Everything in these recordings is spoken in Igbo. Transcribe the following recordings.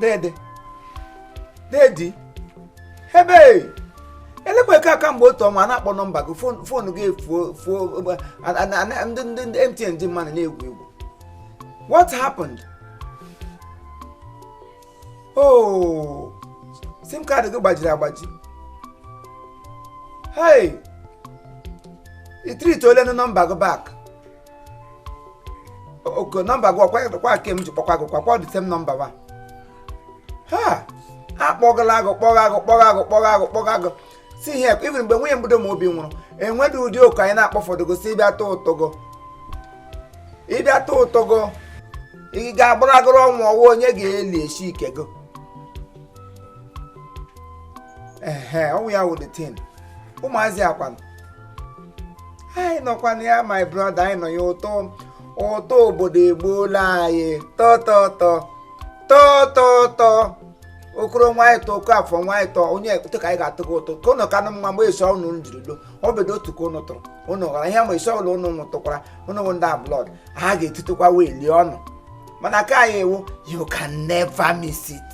dede dedi ebe elekwa eke kamgbe otu ọnwa na-akpọ nọmba gị phone gị efuo fuo ndị ndị ndị MTN ji mmadụ na-egwu egwu what happened oh SIM card gị gbajiri agbaji hey i retrieveolenụ nọmba gị back okay nọmba gị ọkwa ke m ji kpọkwa gị kwakwa the same nọmba wa ha akpọgala gị kpọga gị kpọga gị kpọga gị kpọga gị see here even mgbe nwunye mbido ma obi nwụrụ enwedị ụdị oku anyị na-akpọfọdụ gị sị ị bịa tụọ ụtụ gị ị bịa tụọ ụtụ gị ị ga-agbaragoro ọnwụ ọ wụ onye ga-eli eshi ke gị ehe ọ wụ ya wụ the thing ụmụazị kwanụ anyị nọkwa na ya my brother anyị nọ ya ụtọ ụtọ obodo egbuola anyị tọtọtọ tọtọtọ okoro nwaanyị tọ oke afọ nwaanyị tọ onye ekpụtụ ka anyị ga-atụ gị ụtọ ka ụnụ kanụ mma mgbe esi ọnụ njiri do ọ bedo otu ka ụnụ tụrụ ụnụ ghara ihe ma esi ọbụla ụnụ nwụtụkwara ụnụ nwụ ndị ablọd ha ga-etitụkwa wee lie ọnụ mana ka anyị ewu you can never miss it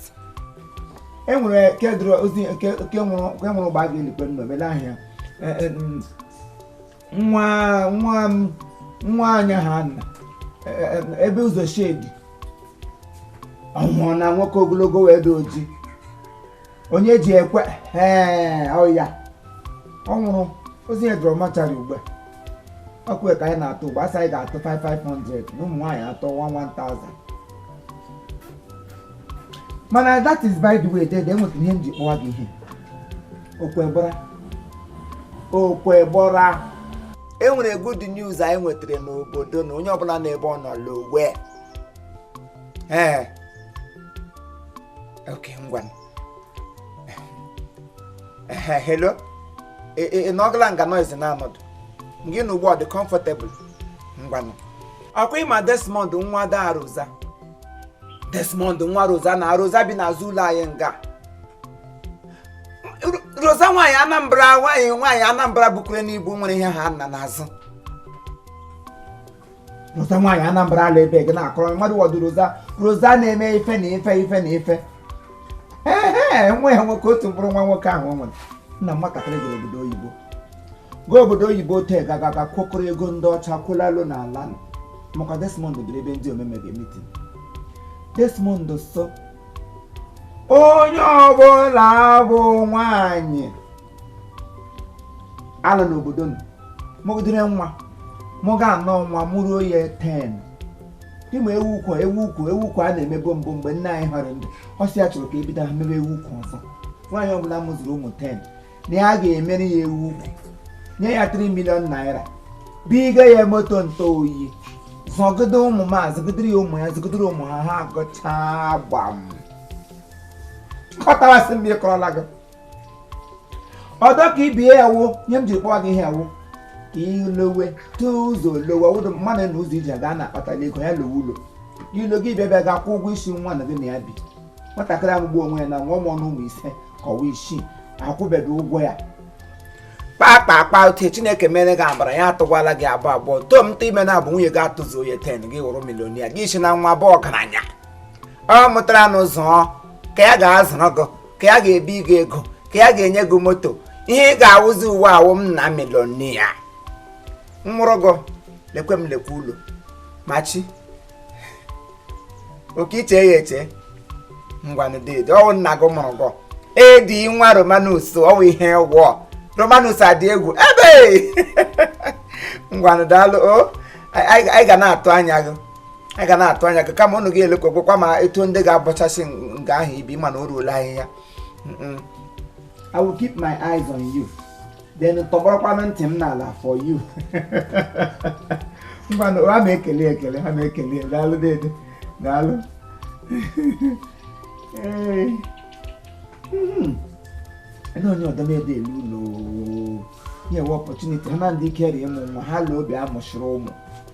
e nwere nke nwụrụ gbaa gị elikwe nọ mele ahịa Eh, eh, mm, nwa nwa nwa anya ha nna eh, ebe ụzọ shedi ọ wụrụ na nwoke ogologo wee dị oji Onyejiekwe ee ọ ya ọ nwụrụ ozu ya dọrọ mortuary ugbu a ọ ke ya ka anyị na-atụ ugbu a a sị anyị ga-atụ 5 500 na ụmụ nwaanyị atụọ 1 1000 mana that is by the way dede enwekwara ihe m ji kpọwa gị ihe okwe gbọra okwe gbọra enwere good news anyị nwetara n'obodo na onye ọbụla n'ebe ọ nọ lowe ee okay ngwa hello ị nọgala nga noise na-anọdịghị na ugbu a ọ dị comfortable ngwanụ ọkwa ị ma Desmond nwa Daa Rosa Desmond nwa Rosa na Rosa bi n'azụ ụlọ anyị nga Rosa nwaanyị Anambra nwaanyị nwaanyị Anambra bukure n'ibu nwere ihe ha nna n'azụ Rosa nwaanyị Anambra ala ebe gị na-akọrọ mmadụ wọdụ Rosa Rosa na-eme ife na ife ife na ife ee nwa ya nwoke otu mkpụrụ nwa nwoke ahụ o nwere nna nwatakịrị gara obodo oyibo gaa obodo oyibo ote gagaga kwokọrọ ego ndị ọcha kwụlalụ n'ala maka Desmond biri ebe ndị omeme ga-eme meeting Desmond sị onye ọbụla bụ nwanyị ala n'obodo nọ mụgidere nwa mụga anọ nwa mụruo ya 10 ime ewu ukwu ewu ukwu ewu ukwu a na-emebu mbụ mgbe nne anyị ha nọ ndụ ọ sị ya chọrọ ka e bido ha mebe ewu ukwu ọzọ nwaanyị ọbụla mụziri ụmụ 10 na ya ga-emere ya ewu ukwu nye ya 3 million naira biga ya moto ntụ oyi zụgide ụmụ ma zụgidere ya ụmụ ya zụgidere ụmụ ha ha gụchaa gbam kọtawasị m ya kọrọla gị ọdọ ka ibie ya wụ ihe m jiri kpọọ gị ihe ya wụ ka ilowe tụọ ụzọ lowe wụdụ mmadụ na ụzọ i ji aga a na-akpatara ego ya lowe ụlọ ilo gị bịa bịa ga-akwụ ụgwọ isi nwanyị gị na ya bi nwatakịrị amụgbuo onwe ya na nwa ụmụ anọ ụmụ ise ka ọ wụ isii ị kwụbeghị ụgwọ ya kpakpa akpa uche chineke mere gị ebere ya atụkwala gị abụọ abụọ too m ime na abụ nwunye gị atụzi onye ten gị wụrụ millionaire gị sị na nwa bụ ọgaranya ọ mụtara nwa zụọ ka ya ga-azụrụ gị ka ya ga-ebi gị ego ka ya ga-enye gị moto ihe ị ga-awụzi uwe awụ m na millionaire mụrụ gị lekwe m lekwe ụlọ machi okay i che ya eche ngwanụ deede ọ wụ nna gị mụrụ gị edi nwa romanus ọ wụ ihe ị wụ romanus adị egwu ebe ngwanụ daalụ o anyị ga na-atụ anya gị anyị ga na-atụ anya gị kama ụnụ ga-elekwekwekwa ma etu ndị ga-abọchasị nga ahụ ibi mana o ruola ahịhịa I will keep my eyes on you. then tọgbọrọkwanụ ntị m n'ala for you ngwanụ ha ma ekele ekele ha ma ekele daalụ dede daalụ ee hmm. na onye ọdọ na-ede elu ụlọ nye opportunity ha na ndị ike rịa ịmụ nwa ha la obi amụchiri ụmụ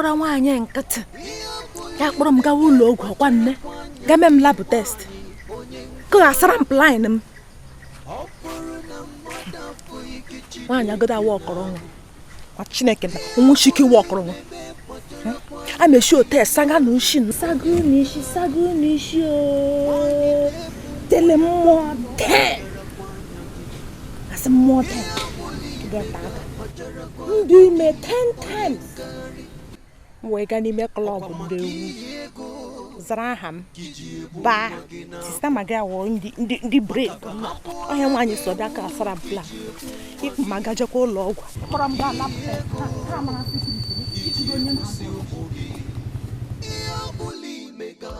gbara nwaanyị nkịtị ya kpọrọ m gawa ụlọ ọgwụ ọkwa nne gaa mee m lab test kasara m plain m nwaanyị agodo awa ọkọrọ nwa chineke na nwụchike iwe ọkọrọ nwa a na-esi otu esaga na ushi saga unu isi saga unu isi o tele mmụọ tee asị mmụọ tee geta aka ndụ ime 10 times m wee gaa n'ime klọb ndị egwu zara aha m baa sista maga wụ ndị bred ọhịa nwaanyị so bịa ka asara plan ịkpọ m agajekwa ụlọ ọgwụ kpọrọ m gaa lab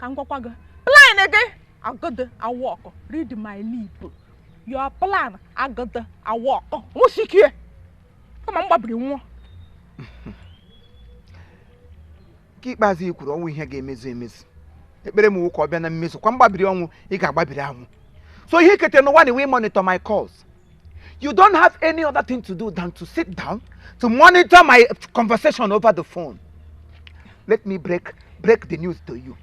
ka m gwakwa gị plan gị agadị awọkụ read my lip your plan agadị awọkụ nwụsikie kama m gbabiri nwụọ nke ikpeazụ i kwuru ọ wụ ihe ga-emezu emezu ekpere m wụ ka ọ bịa na mmezu kwa mgbabiri ọnwụ ị ga-agbabiri anwụ so ihe i kete n'ụwa na iwe monitor my calls You don't have any other thing to do than to sit down to monitor my conversation over the phone. Let me break break the news to you.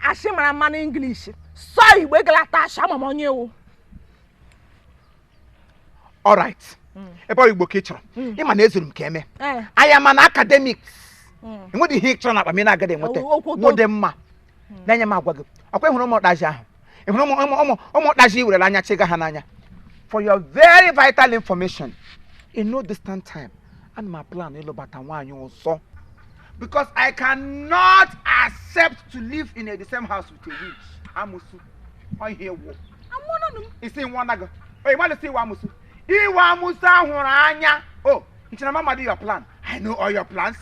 Asị mara mmanụ English. Sụọ Igbo egelata asị ama m onye ị wụ. All right. Mm. Ebe ọ Igbo ka ị chọrọ. Mm. Ị ma na ezuru m ka emee. Eh. I am an academic. Mm. Enwedị ihe ị chọrọ na akpa m ị na-agadị enweta. Ọ dị mma. na-enye m agwa gị ọ kwa ị hụrụ ụmụ ụkpazi ahụ ị hụrụ ụmụ ụkpazi i werela anya chịga ha n'anya for your very vital information in no distant time ana m aplan ịlụbata nwaanyị ọzọ because i cannot accept to live in the same house with a witch amusu ọ ihe ị wụ isi nwa na gị oyi mmadụ sị ị wụ amusu ị wụ amusu ahụrụ anya o ị che na m amadị your plan i know all your plans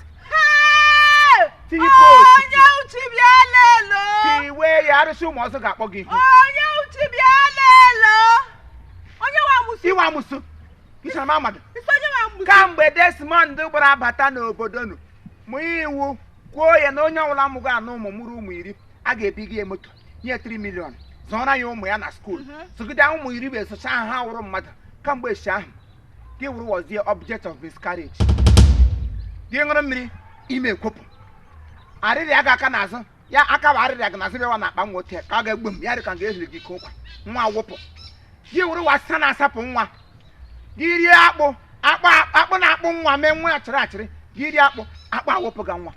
tinye post onye uchi bịa lelo tiwe ya arụsị ụmụ ọzọ ga-akpọ gị ihu onye uchi bịa lelo onye nwe amụsụ ị wụ amụsụ ị che na m amadị isi onye nwe amụsụ kamgbe desmond gbara abata n'obodo nụ mụ iwu kwuo ya na onye ọbụla mụgo anụ ụmụ mụrụ ụmụ iri a ga-ebi gị moto nye 3 milion zụọra ya ụmụ ya na skuul Mhm. zụgide ụmụ iri wee zụcha ha ha wụrụ mmadụ kamgbe echi ahụ gị wụrụ was the object of miscarriage gị ṅụrụ mmiri ime ekwopụ arịrịa gị aka n'azụ ya aka bụ arịrịa gị n'azụ bịawa na akpa nwa otu ya ka ọ ga-egbu m ya dị ka m ga-ehiri gị ka ụkwa nwa wụpụ gị wụrụ wasa na-asapụ nwa gị rie akpụ akpụ na-akpụ nwa mee nwa achịrị achịrị gị rie akpụ akpụ awụpụ gị nwa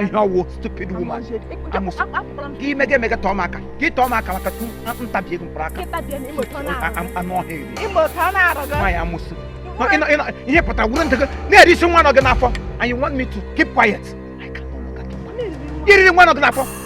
ihe ị wụ stupid woman amusu gị mega emega tọọ m aka gị tọọ m aka maka m tabie gị mkpụrụ aka anụ ọhịa eri nwaanyị amusu ihe pụtara wuru ntego na-eri isi nwa nọ gị n'afọ and you want me to keep quiet I can't no longer keep quiet i riri nwa nọ gị n'afọ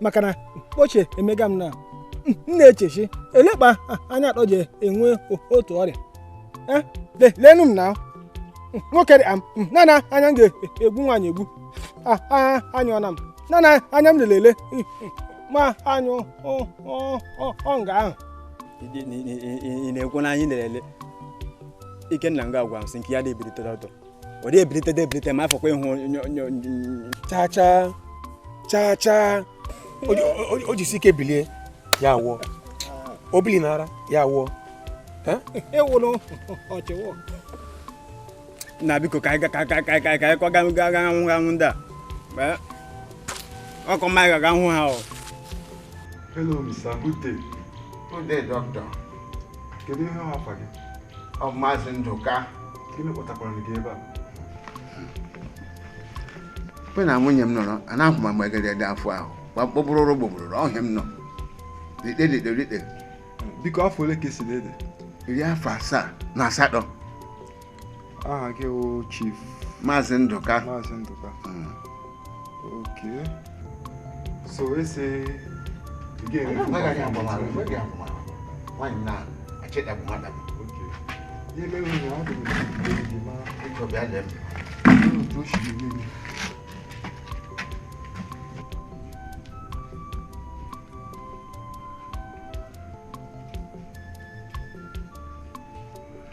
maka na ochie emega m na m na-echechi elekpa anya atọ ji enwe otu ọrịa Eh, le- lenu m na nwoke dị am nana anya m ga-egbu nwaanyị egbu Ah, ah, anyụ ọna m nana anya m lelele ma anyụ ọ- ọ- ọ- ọ nga ahụ ị na-ekwu na anyị na-ele ikenna nga agwa m sị nke ya na-ebiri tọtọtọ ọ dị ebilite dị ebilite ma afọkwa ịhụ chaa chaa chaa chaa o jisi ike bilie ya awụọ o bili n'ara ya awụọ na biko ka anyị kwaga gaga hụ ha hụ ndị a ọ ka mma anyị gaga hụ ha o Hello, Mr. Good day. Good day, doctor. kedu ihe afa gị ọ maazị Ndụka gịnị kpọtakwara gị ebe a mgbe na nwunye m nọrọ a na-ahụ ma mgbe gere ede afọ ahụ gba mkpọbụrụ ụrụ gbogburu ọhịa m nọ rite rite rite biko afọ ole ka ị sị na ị dị iri afọ asaa na asatọ aha gị wụ chief maazị ndụka maazị ndụka hmm. ok so ese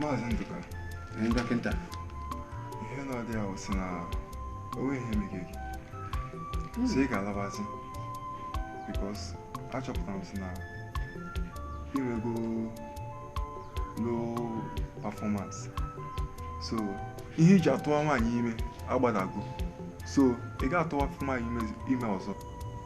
Maazị Ndụka. Ee, dọkịta. Ihe na ọdị ahụ si na o nwe ihe meghe gị. Hmm. So ị ga-alabazi. Because achọpụtara m si na i nwego low performance. So ihe i ji atụwa nwaanyị ime agbadago. So ị ga-atụwa nwaanyị ime ọzọ.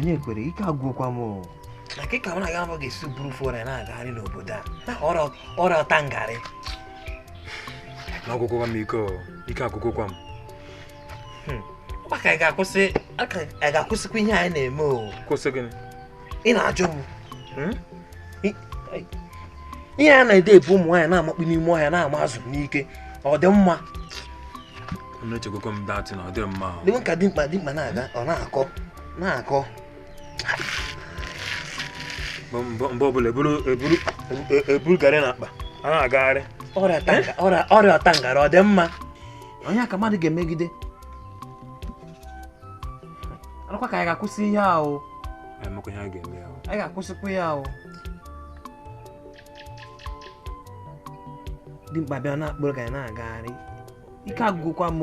onye kwere ike agwụkwa m na nke ka na gị abụ ga-esi buru fore na-agagharị n'obodo a na ọrịa ọta ngarị na ọ gwụgwo m ike ike agwụgwo m hmm. maka anyị ga-akwụsị anyị ga-akwụsịkwa ihe anyị na-eme o kwụsị gịnị ị na-ajụ m hmm? ihe a na-ede ebu ụmụ nwaanyị na-amakpu n'ime ọhịa na-ama azụ n'ike ọ dị mma na-echegokwa m that na ọ dị mma dịwe ka dimkpa dimkpa na-aga ọ na-akọ na-akọ mgbe ọbụla eburu garị e, e, e, na akpa a na-agagharị ọrịa ọtangara ọ dị mma onye ka mmadụ ga-emegide ọ dịkwa ka anyị ga-akwụsị ihe ahụ anyị ga-akwụsịkwa ihe ahụ dimkpa bịa na-akpụrụ garị na-agagharị ike agwụgokwa m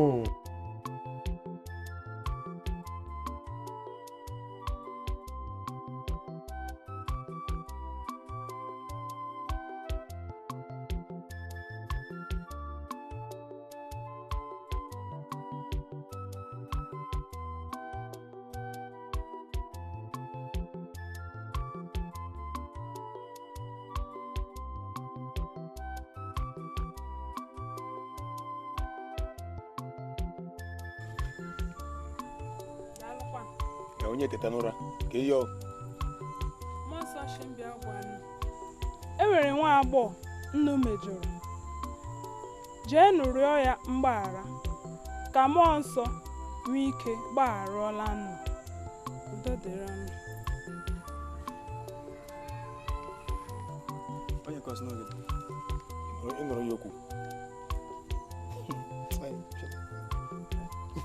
onye teta n'ụra ka ihe e nwere nwa agbọghọ nnu mejọrọ jeenụ rịọ ya mgbaghara ka mmụọ nsọ nwee ike gbagharala nnu udo dịrị nnu Onye kọsị n'oge dị? Ị nụrụ ya okwu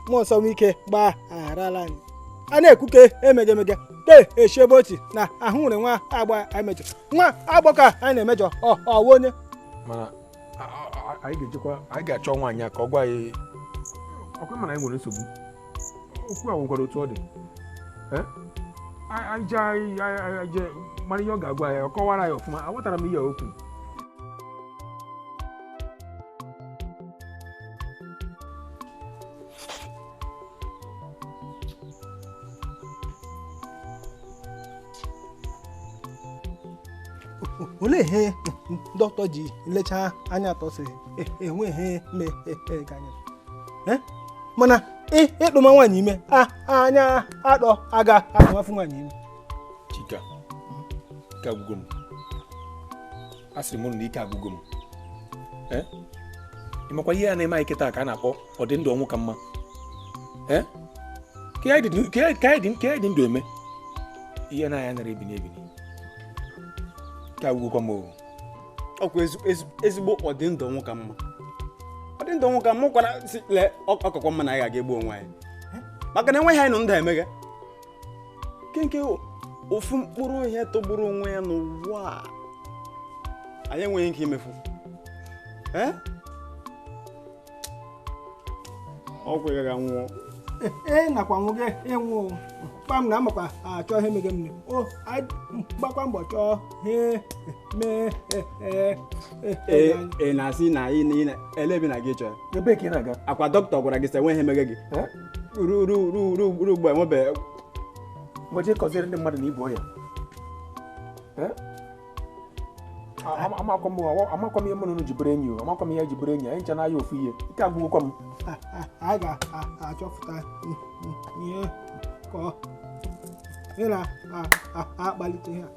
mmụọ nsọ nwee ike gbagharala anyị a na-ekwu ka emegemege ke echi ebe ochi na ahụ nwere nwa agbọ anyị mejọ nwa agbọ ka anyị na-emejọ ọ wụ onye mana anyị ga-ejekwa anyị ga-achọ nwaanyị ka ọ gwa anyị ọkwa mana anyị nwere nsogbu okwu a nwekwara otu ọ dị anyị jee anyị jee mara ihe ọ ga-agwa anyị ọ kọwara anyị ọfụma aghọtara m ihe o kwu olee ihe dọkịta ji lechaa anyị atọ sị enwe ihe mege anyị mana ịtụma nwaanyị ime anyị atọ aga atụmafụ nwaanyị ime chika ike agwụgo m a sịrị m na ike agwụgo m eh? ịmakwa ihe a na-eme anyị kịta ka a na-akpọ ọdị ndụ ọnwụ ka mma eh? ke ihe anyị dị ndụ eme ihe anyị anara ebini ebini ike agwụgokwa m ọkwa ezigbo ọdị ndụ ọnwụ ka mma ọdị ndụ ọnwụ ka mma kwara ọ kakwa mma na anyị ga-aga egbu onwe anyị eh? maka na enweghị ihe anyị nọ ndụ emege ke nke ofu mkpụrụ ihe tọgburu onwe ya n'ụwa anyị enweghị ike imefu eh? ọgwụ ị gaghị nwụọ ee nakwa nwoke ịnwụ kpam ana m akwa achọ ihe mege m o gbakwa mbọ chọọ ihe mee ị na-asị na ị na-ele ebe na gị chọọ ọkwa dọkịta gwara gị sị enwe ihe mege gị ruo ugbu a enwebeghị mgbe kọziere ndị mmadụ na i bu ọya amakwa m amakwa m ihe mụ na unu ji bụrụ enyi o amakwa m ihe ji bụrụ enyi anyị ncha na-aya ofu ihe ike agwụgokwa m anyị ga-achọpụta ihe ga na-akpalite ha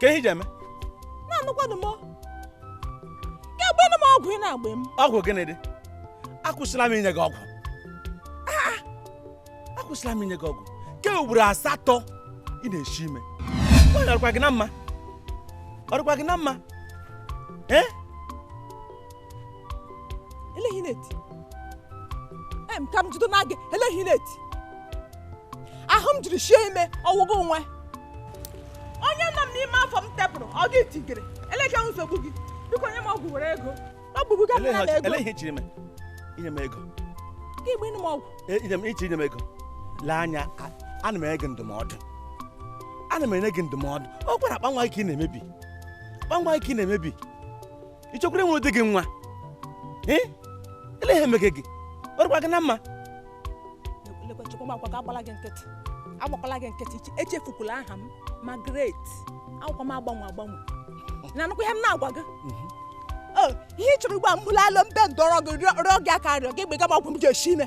kee ihe iji eme na-anụkwanụ m ka ị gbenụ m ọgwụ ị na-agba m ọgwụ gịnị dị akwụsịla m inye gị ọgwụ Ah, ah. akwụsịla m inye gị ọgwụ nke ugboro asatọ ị na-eshi ime nwaanyị ọ dịkwa gị na mma ọ dịkwa gị na mma ee ele ihe ị na-eti em ka m jido na gị ele ihe ị na-eti ahụ m jiri shie ime ọ wụ gị nwe onye nọ m n'ime afọ m tepụrụ ọ gị tigere elekwanụ nsogbu gị biko nye m ọgwụ were ego ọ gbugbu ga mma na ego ele ihe ichiri m inye m ego ka ị gbenụ m ọgwụ e, inye m ichi inye m ego lee anya ana m enye gị ndụmọdụ ana m enye gị ndụmọdụ ọ kwa akpa nwa gị ka ị na-emebi akpa nwa gị ka ị na-emebi ị chọkwara inwere di gị nwa ee ele ihe emege gị ọ dịkwa gị na mma lekwa chukwu m akwa ka agbala gị nkịtị agbakwala gị nkịtị iche- echefukwala aha m Margaret abụkwa m agbanwe agbanwe na-anụkwa ihe m na-agwa gị o ihe ị chọrọ ugbu a mbụla alo mbe ndọrọ gị rịọ rịọ gị aka rịọ gị gbega m ọgwụ m ji esi ime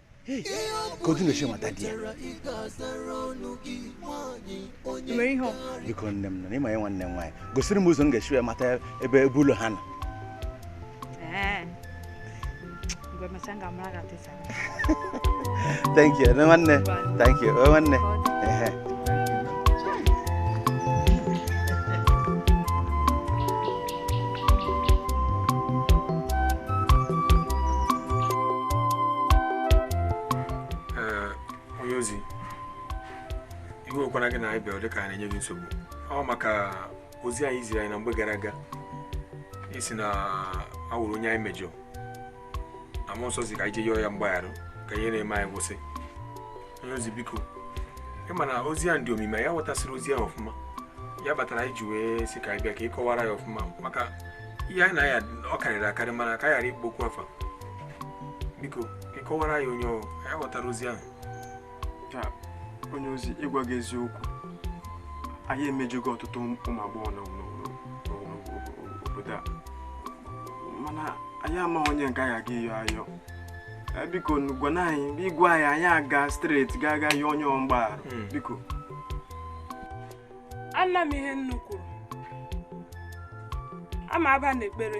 ka otu na-eche mata di ya biko nne m nọ n'ịma ya nwanne m nwaanyị gosiri m ụzọ m ga-esi wee mata ebe ebe ụlọ ha nọ thank you nwanne thank you nwanne onye ozi iwe ewekwana gị na anyị bịara dịka anyị na-enye gị nsogbu ọ maka ozi ahụ i ziri anyị na mgbe gara aga ị sị na e nwere onye anyị mejọ mmụọ nsọ sị ka anyị jee yọọ ya mgbaghara ka ihe na-eme anyị kwụsị onye ozi biko ị ma na ozi a dị omimi anyị aghọtasịrọ ozi a ọfụma ya kpatara anyị ji wee sị ka anyị bịa ka ị kọwara anyị ọfụma maka ihe anyị na-aya ọ karịrị akarị mana ka ghara ịkpọ okwu afa biko ka ị kọwara anyị onye ọ anyị aghọtarọ ozi ahụ onye ozi ịgwa gị eziokwu anyị emejugo ọtụtụ ụmụ agbọghọ n'obodo a mana anyị ama onye nke anyị aga ịyọ ayọ eh, biko gwanụ anyị ị gwa anyị anyị aga straight ga aga yọọ onye mgbaghara hmm. biko anụ m ihe unu kwuru aga m aba na ekpere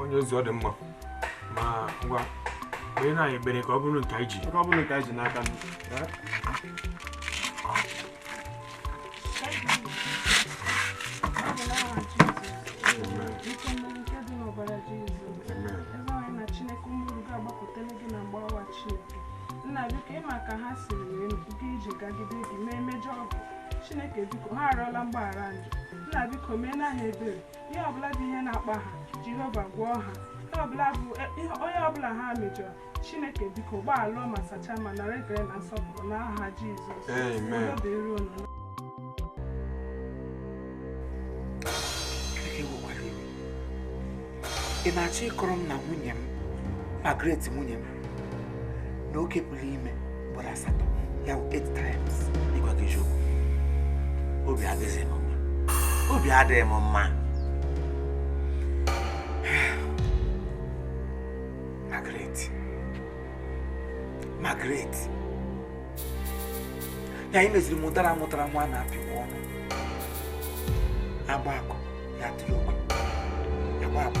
onye ozi ọ dị mma ma ngwa kpere na anyị ekpere ka ọ bụrụ nke anyị ji ka ọ bụrụ nke anyị ji n'aka nna biko ị ma ka ha siri wee jee ije gagide gị mee mejọọ gị chineke biko ha arịọla mgbaghara njọ nna biko mee na ha ebere ihe ọbụla dị ihe na-akpa ha jehova gwọọ ha ihe ọbụla bụ e, ihe- onye ọbụla ha mejọrọ chineke biko gbaghalụ ma sachaa ma nara ekele na nsọpụrụ n'aha jizọs Amen. Udo dịrị unu. ị na-achọ ịkọrọ m na nwunye m Margaret nwunye m na oke pụrụ ime ugboro asatọ ya bụ eight times ịgwa gị eziokwu obi adịghị m mma obi adịghị m mma Margaret Margaret ya anyị meziri mụtara mụtara nwa na-apị nwa ọnụ a gbaa akụ ya tụrụ ogwe a gbaa akụ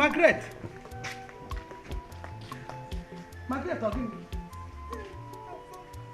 Margaret Margaret ọ gịnị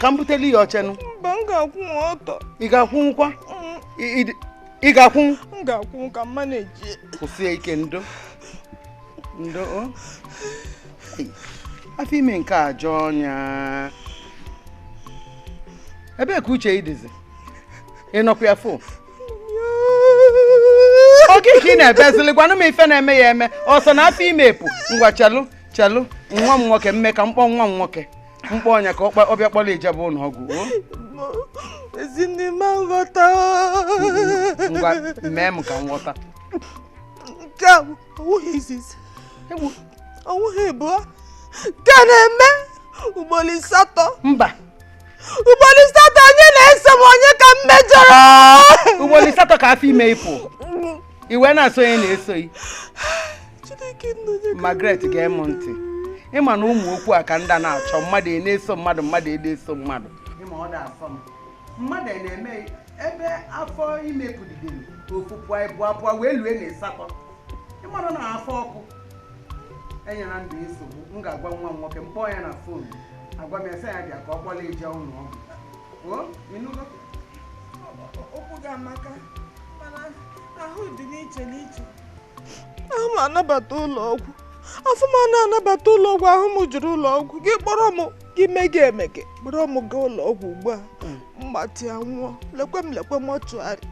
ka m butelu ya ochenụ mba m ga-akwụnwụ ọtọ ị ga-akwụnwụkwa mm. ị ga-akwụnwụ m ga-akwụnwụ ka mma na-eji kwụsie ike ndo ndo afọ ime nke a jọọ ọnya ebee ka uche ị dịzi ị nọkwa ya fụ oge ka ị na-ebezili gwanụ m ife na-eme ya eme ọsọ na afọ ime epu ngwa chelụ chelụ nwa m nwoke mee ka m kpọọ nwa m nwoke m kpọọ Onyeka ọ bịa kpọrọ ị jebe ụlọ ọgwụ ezinne m nghọta ngwa mee m ka m ghọta nke a ọwụghị izizi ọwụghị ịbụọ nke na-eme ugboro asatọ mba ugboro asatọ onye na-eso m onye ka m mejọrọ ugboro asatọ ka afọ ime ịpụ ị wee na-asị onye na-eso gị Margaret gee m ntị ị ma na ụmụ okwu a ka ndị na-achọ mmadụ e na-eso mmadụ mmadụ e na-eso mmadụ mmadụ e na-eme ebe afọ ime pụdidere ofu pụọ ịbụa pụọ wee lue na ịsatọ ị mara na afọ ọkụ enyela ndụ nsogbu m ga-agwa nwa m nwoke m kpọọ ya na fon agwa m ya sị ya bịa ka ọ kpọlụ ị je ụlọ ọgwụ okwu gị amaka mana ahụ dị n'iche n'iche ahụ m anabata ụlọ ọgwụ ahụ m anaghị anabata ụlọ ọgwụ ahụ m jụrụ ụlọ ọgwụ gị kpọrọ m gị mege emege kpọrọ m gaa ụlọ ọgwụ ugbu a m gbatịa nwụọ lekwe m lekwe mọchụarị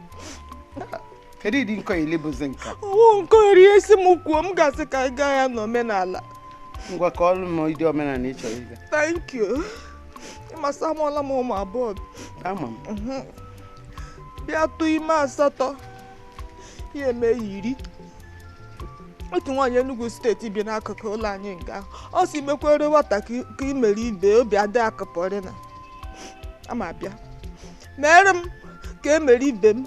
kedu ụdị nkọ ile bụzi nka ọ wụ nke eri esi m kwuo m ga-asị ka anyị gaa ya n'omenala ngwa kọọrụ m ụdị omenala ị chọrọ ịga thank you ị ma sị amụọla m ụmụ abụọ ama m Mhm. bịa tụọ ime asatọ ya eme ya iri otu nwaanyị Enugu steeti bi n'akụkụ ụlọ anyị nga ọ sị mekwere nwata ka i- ka i mere ibe obi adị ya ka pọrịna ama bịa mere m ka e mere ibe m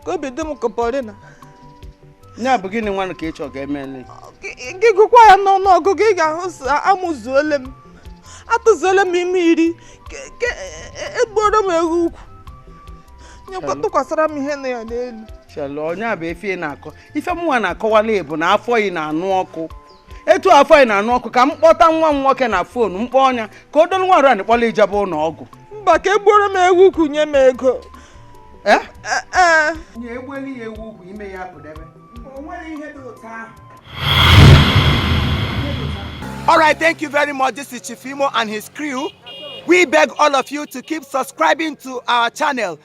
ka obi dị m ka pọrịna ya bụ gịnị nwanụ ka ị chọrọ ka e mele gị gụkwa ya n'ọnụ ọgụgụ ị ga-ahụ sị amụzuole m atụzuole m ime iri ke- ke- e- e gbuoro m ewu ukwu nyekwa tụkwasara m ihe na ya n'elu chelụ ọ nya bụ ife ị na-akọ ife mụnwa na-akọwalụ ị bụ na afọ ị na-anụ ọkụ etu afọ anyị na-anụ ọkụ ka m kpọta nwa m nwoke na fon m kpọọ nya ka o dolu nwarụ anyị kpọlụ ị jebe ụlọ ọgwụ mba ka e gbuoro m ewu ukwu nye m ego ee eh? eh, eh. nye egbeli ya ewu ukwu ime ya pụdebe o nwere ihe dị ụtọ ahụ All right, thank you very much. This is Chief Imo and his crew. We beg all of you to keep subscribing to our channel.